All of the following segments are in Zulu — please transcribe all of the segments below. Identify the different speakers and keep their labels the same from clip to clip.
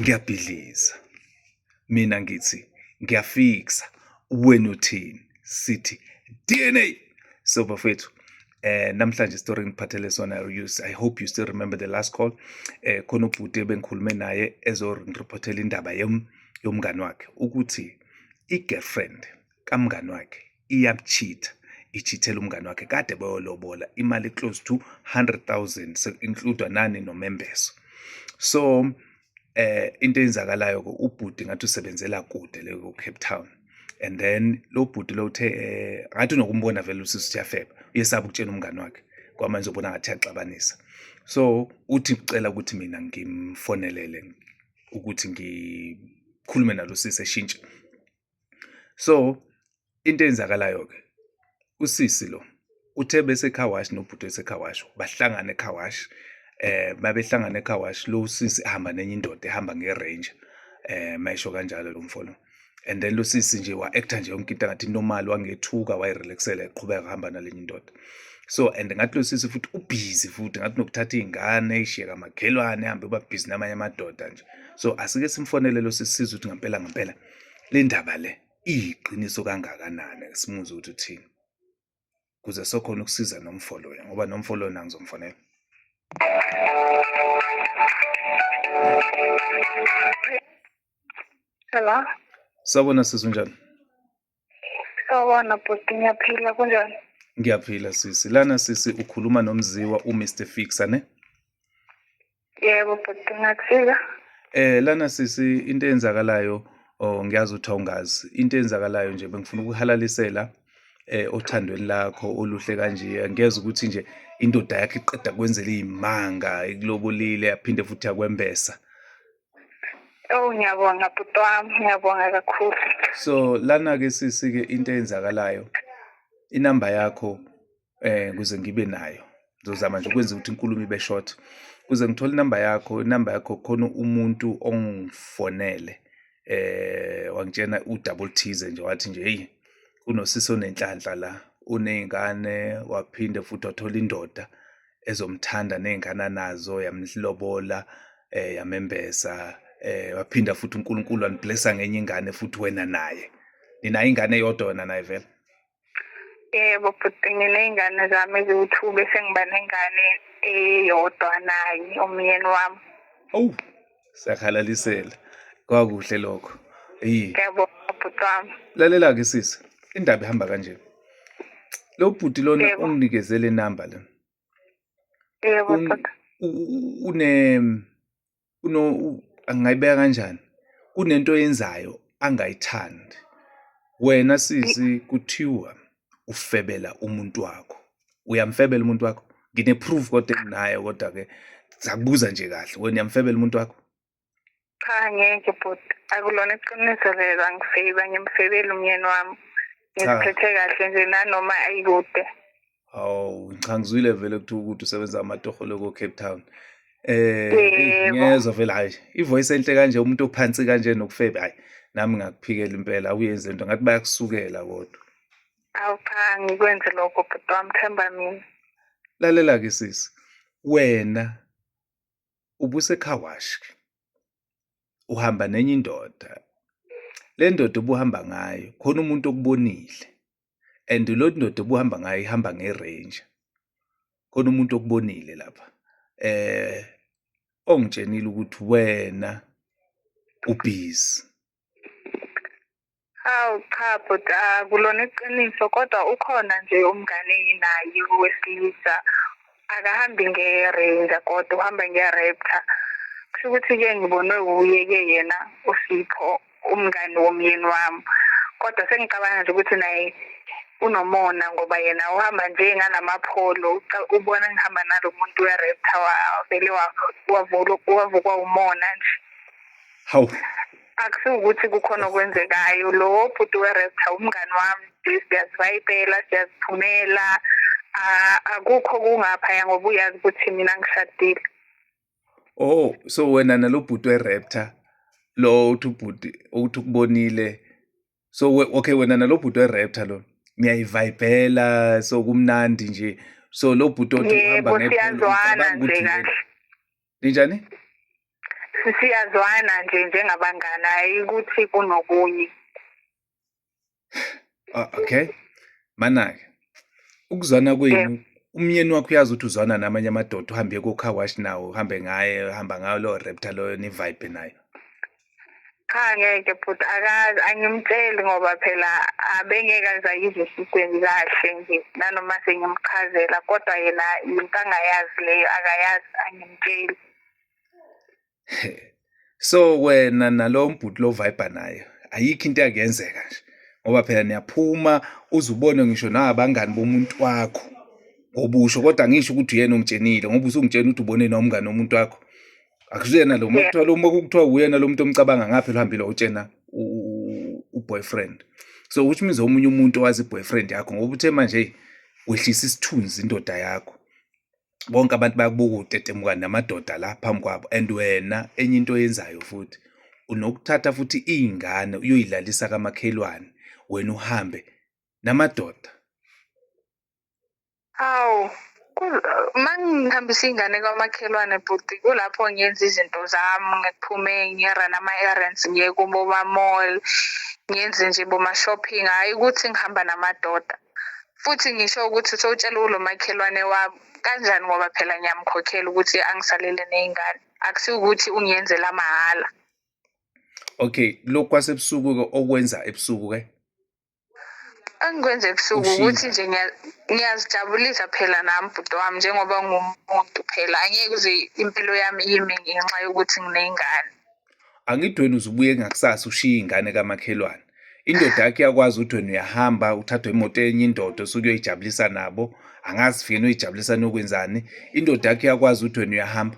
Speaker 1: ngiyabhidliza mina ngithi ngiyafikisa wena uthini sithi DNA so bafethu eh namhlanje story ngiphathele sona use i hope you still remember the last call eh khona ubhuti ebengikhulume naye ezo reportela indaba yom yomngani wakhe ukuthi i girlfriend kamngani wakhe iyakuchitha ichithela umngane wakhe kade bayolobola imali close to 100,000 so include nani nomembeso so eh into eyenzakalayo ke ubhuti ngathi usebenzela kude le ku Cape Town and then lo bhuti lo uthe eh, ngathi unokumbona vele usisi uyafeba uyesaba ukutshena umngane wakhe kwamanje ubona ngathi yaxabanisa so uthi ucela ukuthi mina ngimfonelele ukuthi ngikhulume nalo sisi eshintshe so into eyenzakalayo ke usisi lo uthe bese car wash nobhuti wese car wash bahlangana e car wash eh babehlangana e car wash lo sisi ahamba nenye indoda ehamba nge ranger eh mayisho kanjalo lo mfolo and then lo sisi nje wa actor nje yonke into ngathi normal wangethuka wayi relaxela eqhubeka hamba nalenye indoda so and ngathi lo sisi futhi ubhizi futhi ngathi nokuthatha iy'ngane ishiyeka makhelwane hambe uba bhizi namanye amadoda nje so asike simfonele lo sisi sizwe ukuthi ngampela ngampela le ndaba le iyiqiniso kangakanani simuze ukuthi uthini kuze sokhona ukusiza nomfo lona ngoba nomfo lona ngizomfonela
Speaker 2: Hello. Sawubona
Speaker 1: sisi unjani?
Speaker 2: Sawubona bhuti, ngiyaphila kunjani? Ngiyaphila sisi.
Speaker 1: Lana sisi ukhuluma nomziwa uMr Fixa ne?
Speaker 2: Yebo bhuti, ngakusiza. Eh lana
Speaker 1: sisi into eyenzakalayo oh ngiyazi ukuthi awungazi. Into eyenzakalayo nje bengifuna ukuhalalisela eh othandweni lakho oluhle kanje. Ngiyeza ukuthi nje indoda yakhe iqeda kwenzela izimanga ikulobolile yaphinde futhi yakwembesa.
Speaker 2: Oh ngiyabonga bhuti wami ngiyabonga
Speaker 1: kakhulu. So lana ke sisi ke into eyenzakalayo inamba yakho eh kuze ngibe nayo. Ngizozama nje ukwenza ukuthi inkulumo ibe short. Kuze ngithole inamba yakho, inamba yakho khona umuntu ongifonele eh wangitshena udouble thize nje wathi nje hey kunosisi onenhlanhla la unezingane waphinde futhi wathola indoda ezomthanda nezingane anazo yamlobola eh yamembesa eh waphinda futhi uNkulunkulu waniblessa ngenye ingane futhi wena naye nina ingane yodwa wena naye vele
Speaker 2: yebo bhuti nginey'ngane zami eziwu-two bese ngiba nengane eyodwa naye umyeni wami owu
Speaker 1: siyakhalalisela kwakuhle lokho eyi ngiyabonga
Speaker 2: bhuti wami lalela-ke sisi
Speaker 1: indaba ihamba kanje lo bhuti lona Yebo. unginikezele inamba le
Speaker 2: yebo Un- bhuti u- u- une
Speaker 1: uno u- angayibeka kanjani kunento yenzayo angayithandi wena sisi kuthiwa ufebela umuntu wakho uyamfebela umuntu wakho ngine-proof kodwa enginayo kodwa-ke sakubuza nje kahle wena uyamfebela umuntu wakho cha
Speaker 2: ngeke bhuti akulona iqiniso lelo angifebi angimfebeli umyeni wami ngiziphethe kahle nje nanoma ayikude hawu
Speaker 1: cha ngizwile vele kuthiwa ukuthi usebenza amatoho loko cape town eh ngiyezwa vele hayi ivoice enhle kanje umuntu ophansi kanje nokufebe hayi nami ngakuphikela impela awuyenze into ngathi bayakusukela kodwa Awu cha
Speaker 2: ngikwenze lokho bhuti wami themba mina. lalela ke
Speaker 1: sisi wena ubusekhawashi uhamba nenye indoda le ndoda obuhamba ngayo khona umuntu okubonile and lo ndoda obuhamba ngayo ihamba nge-ranger khona umuntu okubonile lapha eh ongitshenile ukuthi wena ubhizi
Speaker 2: Hawu cha bhuti akulona iqiniso kodwa ukhona nje umngane enginaye wesilisa akahambi nge-ranger kodwa uhamba nge-raptor kusho ukuthi-ke ngibonwe wuye-ke yena usipho umngani womyeni wami kodwa sengicabanga nje ukuthi naye unomona ngoba yena uhamba nje ngalamapholo ubona ngihamba nalo muntu we-raptor wavele wavukwa umona nje hawu akusiwukuthi kukhona okwenzekayo lo bhuti werest umngani wami siyazivayibela siyaziphumela akukho kungaphaya ngoba uyazi ukuthi mina ngishadile
Speaker 1: oh so wena nalo bhuti weraptor lo uthi ubhuti ukuthi ukubonile so okay wena nalo bhuti weraptor lo niyayivayibhela so kumnandi nje so lo bhuti othi uhamba ngephula siyazwana
Speaker 2: nje kahle ninjani
Speaker 1: siyazwana
Speaker 2: nje njengabangani hayi ukuthi kunokunye
Speaker 1: ah, okay manake ukuzwana kwenu umyeni wakho uyazi ukuthi uzwana namanye amadoda uhambe kocar wash nawo uhambe ngaye uhamba ngayo lowo raptor loyo nivibe nayo
Speaker 2: cha ngeke bhuti akazi angimtsheli ngoba phela abengeke aze ayizwe esikweni kahle nje nanoma sengimchazela kodwa yena yinto angayazi leyo akayazi angimtsheli
Speaker 1: so wena nalo mbhuti lo vibe nayo ayikho into yakuyenzeka nje ngoba phela niyaphuma uzubone ngisho nabangani bomuntu wakho ngobusho kodwa ngisho ukuthi uyena omtshenile ngoba usungitshena ukuthi ubone nomngane womuntu wakho akusiyena lo uma kuthiwa lo uma kuthiwa uyena lo muntu omcabanga ngaphi lohambile utshena uboyfriend so which means omunye umuntu owazi boyfriend yakho ngoba uthe manje wehlisa isithunzi indoda yakho bonke abantu bayakubuka utetemuka namadoda la phambi kwabo and wena enye into oyenzayo futhi unokuthatha futhi iy'ngane uyoyilalisa kamakhelwane wena uhambe namadoda
Speaker 2: Awu uma ngihambisa iy'ngane kwamakhelwane bhuti kulapho ngiyenza izinto zami ngiphume ngiye-run ama-errands ngiye kuboma-mall ngiyenze nje boma-shopping hhayi ukuthi ngihamba namadoda futhi ngisho ukuthi sowutshela ulo makhelwane wami kanjani ngoba phela ngiyamkhokhela ukuthi angisalele ney'ngane akusiwukuthi ungiyenzela mahhala
Speaker 1: okay lokhu kwasebusuku-ke okwenza ebusuku-ke
Speaker 2: engikwenza ebusuku Ushilo. ukuthi nje ngiya- ngiyazijabulisa phela nami bhuti wami njengoba ngumuntu phela angeke uze impilo yami ime ngenxa yokuthi nginey'ngane angidweni
Speaker 1: uzubuye ngakusasa ushiye ingane kamakhelwane indoda yakhe iyakwazi udweni uyahamba uthathwe imoto enye indoda osuke uyoyijabulisa nabo angazi fike noyijabulisa nokwenzani indoda yakhe iyakwazi udweni uyahamba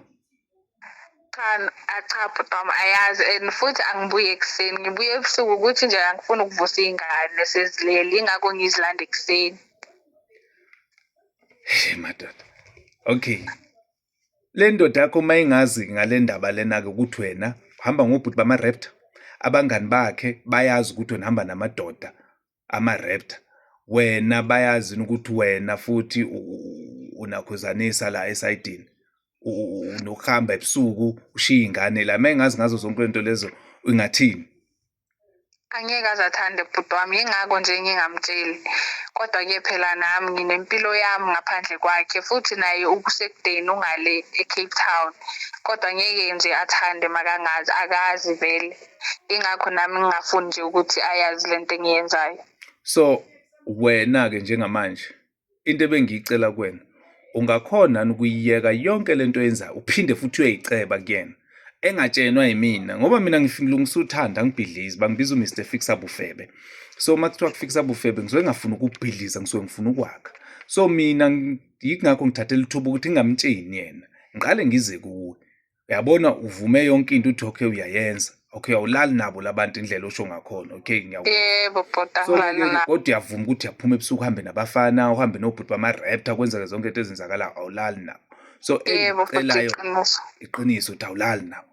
Speaker 1: cha ah,
Speaker 2: cha bhuti wami ayazi and futhi angibuye ekuseni ngibuye ebusuku ukuthi nje angifuni ukuvusa iy'ngane sezilele yingakho ngizilanda ekuseni
Speaker 1: Hey madoda. Okay. Le ndoda yakho uma ingazi ngale ndaba lena-ke ukuthi wena uhamba ngobhuti bama-raptor abangani bakhe bayazi ukuthi wena hamba namadoda ama-raptor wena bayazi ukuthi wena futhi unakhuzanisa la esayidini nokuhamba ebusuku ushiye ingane la mengazi ngazo zonke lento lezo ingathini
Speaker 2: angeke aze athande bhuti wami yingakho nje ngingamtsheli kodwa ke phela nami nginempilo yami ngaphandle kwakhe futhi naye ukusekudeni ungale ecape town kodwa ngeke nje athande makangazi akazi vele ingakho nami ngingafuni nje ukuthi ayazi le nto engiyenzayo so
Speaker 1: wena-ke njengamanje into ebengiyicela kuwena ungakhona ukuyiyeka yonke le nto oyenzayo uphinde futhi uyoyiceba kuyena engatshenwa yimina ngoba mina ngilungisa uthanda ngibhidlizi bangibiza uMr Fixa Bufebe so uma kuthiwa kufixa bufebe ngisuke ngafuna ukubhidliza ngisuke ngifuna ukwakha so mina yingakho ngithathela ithuba ukuthi ngingamtsheni yena ngiqale ngize kuwe uyabona uvume yonke into uthi okay uyayenza okay awulali nabo labantu indlela osho ngakhona okay ngiyabo bhuti angilali
Speaker 2: nabo kodwa
Speaker 1: uyavuma
Speaker 2: ukuthi uyaphuma
Speaker 1: ebusuku uhambe nabafana uhambe nobhuti bama-raptor kwenzeke zonke into ezenzakalayo awulali nabo so engicelayo iqiniso ukuthi awulali nabo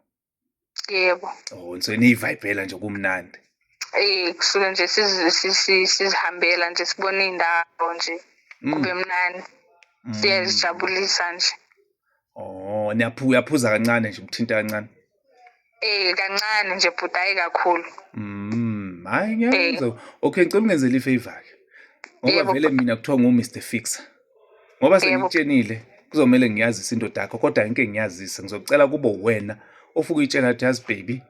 Speaker 1: yebo
Speaker 2: oh so
Speaker 1: niyivayibhela nje kumnandi eh kusuke
Speaker 2: nje sizihambela nje sibona iy'ndawo nje mm. kube mnandi mm. siyazijabulisa nje Oh,
Speaker 1: niyaphuza uyaphuza kancane nje umthinta kancane. Eh
Speaker 2: kancane nje bhuti hayi kakhulu. Mm,
Speaker 1: hayi Eh. ngiyakwenza. Okay, ngicela ungenzele ifavor ke. Ngoba Yebo. vele mina kuthiwa ngu Mr Fixer. Ngoba Yebo. sengitshenile kuzomele ngiyazise indoda yakho kodwa ngeke ngiyazise ngizocela kubo wena ofuke itshela ukuthi yazi baby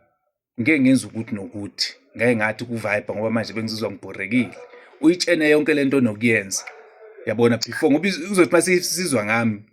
Speaker 1: ngeke ngenza ukuthi nokuthi ngeke ngathi kuvibe ngoba manje bengizizwa ngibhorekile uyitshene yonke lento nokuyenza yabona before ngoba uzothi mase sizwa ngami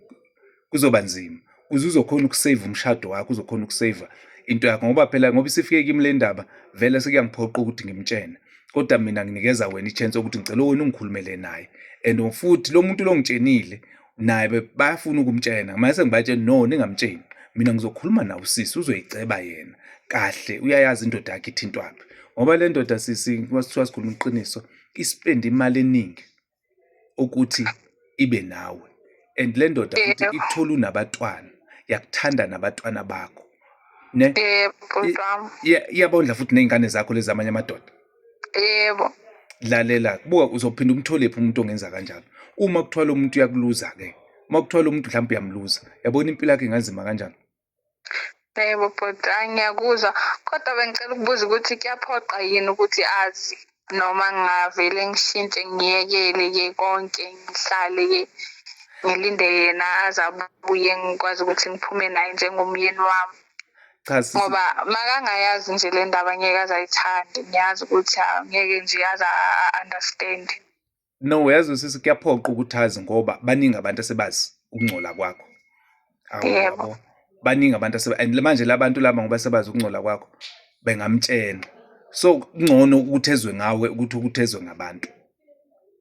Speaker 1: kuzoba nzima uze uzokhona ukusave umshado wakho uzokhona ukusave into yakho ngoba phela ngoba isifike kimi le ndaba vele sekuyangiphoqa ukuthi ngimtshene kodwa mina nginikeza wena ichance ukuthi ngicela wena ungikhulumele naye and futhi lo muntu lo ngitshenile naye bayafuna ukumtshena manje sengibatshela no ningamtsheni mina ngizokhuluma nawo sisi uzoyiceba yena kahle uyayazi indoda yakhe ithintwaphi ngoba le ndoda sisi kwasithiwa sikhuluma iqiniso isipenda imali eningi ukuthi ibe nawe and le ndoda futhi ikuthole unabatwana yakuthanda nabatwana bakho ne
Speaker 2: iyabondla futhi
Speaker 1: ney'ngane zakho lezi amanye amadoda yebo
Speaker 2: lalela
Speaker 1: buka uzophinda umtholephi umuntu ongenza kanjalo uma kuthiwa lo muntu uyakuluza ke uma kuthiwa lo muntu mhlawumbe uyamluza yabona impilo yakhe inganzima kanjani
Speaker 2: yebo bhuti hayi ngiyakuzwa kodwa bengicela ukubuza ukuthi kuyaphoqa yini ukuthi azi noma ngingavele ngishintshe ngiyekele-ke konke ngihlale-ke ngilinde yena aze abuye ngikwazi ukuthi ngiphume naye njengomyeni wami cha sisi ngoba
Speaker 1: makangayazi
Speaker 2: nje le ndaba ngeke azayithandi ngiyazi ukuthi ah, ngeke nje aze a-understand no
Speaker 1: uyazi sisi kuyaphoqa ukuthi azi ngoba baningi abantu asebazi ukungcola kwakho Awu, Yebo. yabo. baningi abantu aseba and manje labantu laba ngoba sebazi ukungcola kwakho bengamtshena so kungcono ukuthi ezwe ngawe ukuthi ukuthezwe ngabantu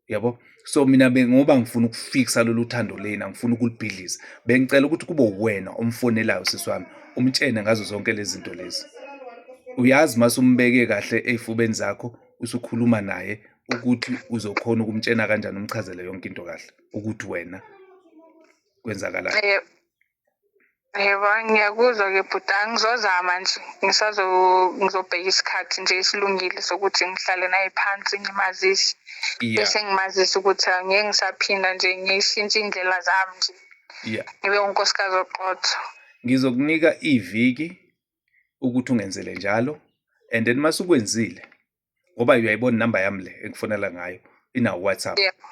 Speaker 1: yabo so mina bengoba ngifuna ukufikisa lolu thando leni angifuna ukulibhidliza bengicela ukuthi kube uwena omfonelayo sisi wami umtshene ngazo zonke lezi zinto lezi uyazi mase umbeke kahle ey'fubeni zakho usukhuluma naye ukuthi uzokhona ukumtshena kanjani umchazele yonke into kahle ukuthi wena kwenzakalani eh,
Speaker 2: Yebo, ngiyakuzwa-ke bhuti, angizozama nje ngisazo- ngizobheka isikhathi nje esilungile sokuthi ngihlale naye phansi ngimazise, Yeah. bese ngimazisa ukuthi angeke ngisaphinda nje ngishintshe iy'ndlela zami nje, Yeah. ngibe unkosikazi oqotho. Ngizokunika
Speaker 1: iviki ukuthi ungenzele njalo and then masukwenzile ngoba uyayibona inamba yami le engifonela ngayo inawo WhatsApp yebo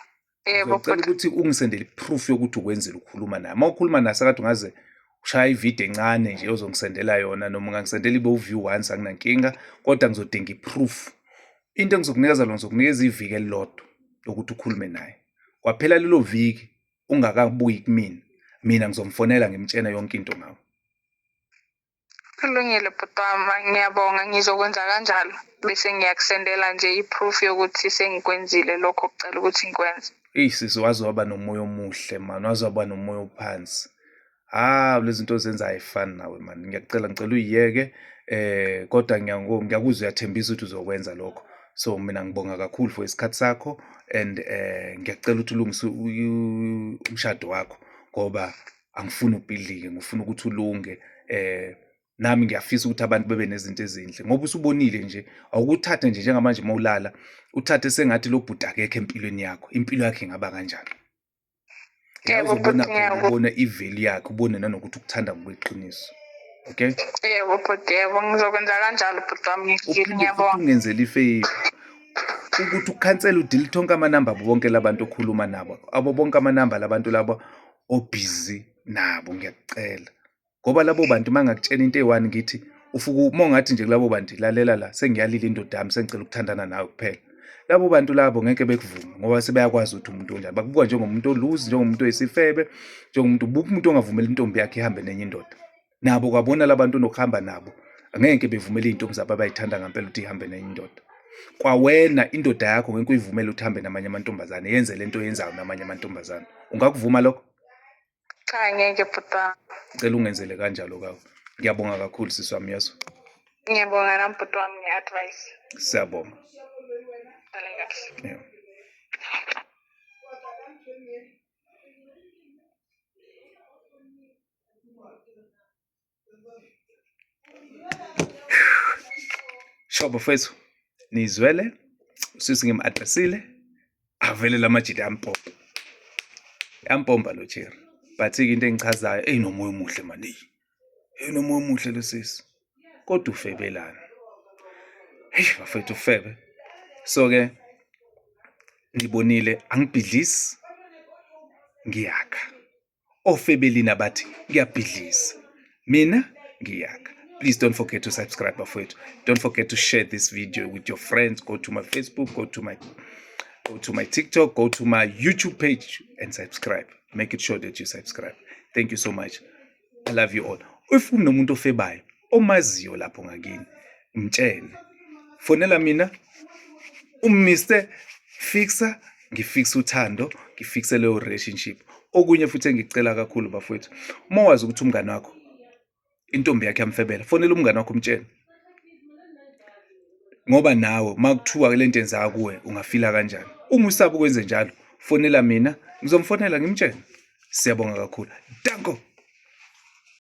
Speaker 1: yebo ngicela
Speaker 2: ukuthi
Speaker 1: ungisendele proof yokuthi ukwenzile ukukhuluma naye uma ukhuluma naye sakade ungaze ushaya ivideo encane nje ozongisendela yona noma ungangisendela ibe uview once anginankinga kodwa ngizodinga iproof into engizokunikeza lona ngizokunikeza iviki elilodwa lokuthi ukhulume naye kwaphela lelo viki ungakabuyi kumina mina ngizomfonela ngimtshena yonke into ngawo Kulungile
Speaker 2: bhuti wami ngiyabonga ngizokwenza kanjalo bese ngiyakusendela nje i-proof yokuthi sengikwenzile lokho okucela ukuthi ngikwenze. Eyi sisi waze waba
Speaker 1: nomoya omuhle mani waze waba nomoya ophansi hawu ah, lezi zinto ozenza ayifani nawe mani ngiyakucela ngicela uyiyeke eh kodwa ngiyakuzwa uyathembisa ukuthi uzokwenza lokho so mina ngibonga kakhulu for isikhathi sakho and eh ngiyacela ukuthi ulungise umshado wakho ngoba angifuni ubhidlike ngifuna ukuthi ulunge eh nami ngiyafisa ukuthi abantu bebe nezinto ezinhle ngoba usubonile nje awukuthathe nje njengamanje uma ulala uthathe sengathi lo bhuti akekho empilweni yakho impilo yakhe ingaba kanjani ubona iveli yakhe ubone nanokuthi ukuthanda ngokweqiniso okay yebo bhuti
Speaker 2: yebo ngizokwenza kanjalo bhuti wami ngiyabonga ungenzela ifeyiva
Speaker 1: ukuthi ukhansela udelete onke amanamba abo bonke labantu okhuluma nabo abo bonke amanamba labantu labo obhizi nabo ngiyakucela ngoba labo bantu uma ngakutshela into eyi-one ngithi ufuku uma ungathi nje kulabo bantu lalela la sengiyalile indoda yami sengicela ukuthandana nawe kuphela labo bantu labo ngeke bekuvume ngoba sebeyakwazi ukuthi umuntu onjani bakubuka njengomuntu oluzi njengomuntu oyisifebe njengomuntu buka umuntu ongavumeli intombi yakhe ihambe nenye indoda nabo kwabona labantu nokuhamba nabo angeke bevumele izintombi zabo abayithanda ngempela ukuthi ihambe nenye indoda kwawena indoda yakho ngeke uyivumele ukuthi hambe namanye amantombazane yenze lento yenzayo namanye amantombazane ungakuvuma lokho cha
Speaker 2: ngeke bhuta cela ungenzele
Speaker 1: kanjalo kawo ngiyabonga kakhulu sisi wami yeso ngiyabonga nami
Speaker 2: bhuti wami nge-advice siyabonga dale kahle yeah.
Speaker 1: Sho bafethu nizwele sisi ngim-addressile avele la majidi ampompa yampompa lo jeri but-ke into engichazayo eyi nomoya omuhle maningi eyi nomoya omuhle lo sisi kodwa ufebelana heyi bafethu ufebe so-ke ngibonile angibhidlisi ngiyakha ofebelini abathi ngiyabhidliza mina ngiyaka please don't forget to subscribe bafowethu don't forget to share this video with your friends go to my facebook go to my go to my tiktok go to my youtube page and subscribe make it sure that you subscribe thank you so much i love you all if unomuntu ofebayo omaziyo lapho ngakini mtshele fonela mina umiste fixa ngifixa uthando ngifixe leyo relationship okunye futhi engicela kakhulu bafowethu uma wazi ukuthi umngane wakho intombi yakhe yamfebela fonela umngane wakho umtshele ngoba nawe makuthiwa le nto enzaka kuwe ungafila kanjani uma usaba ukwenze njalo fonela mina ngizomfonela ngimtshele siyabonga kakhulu danko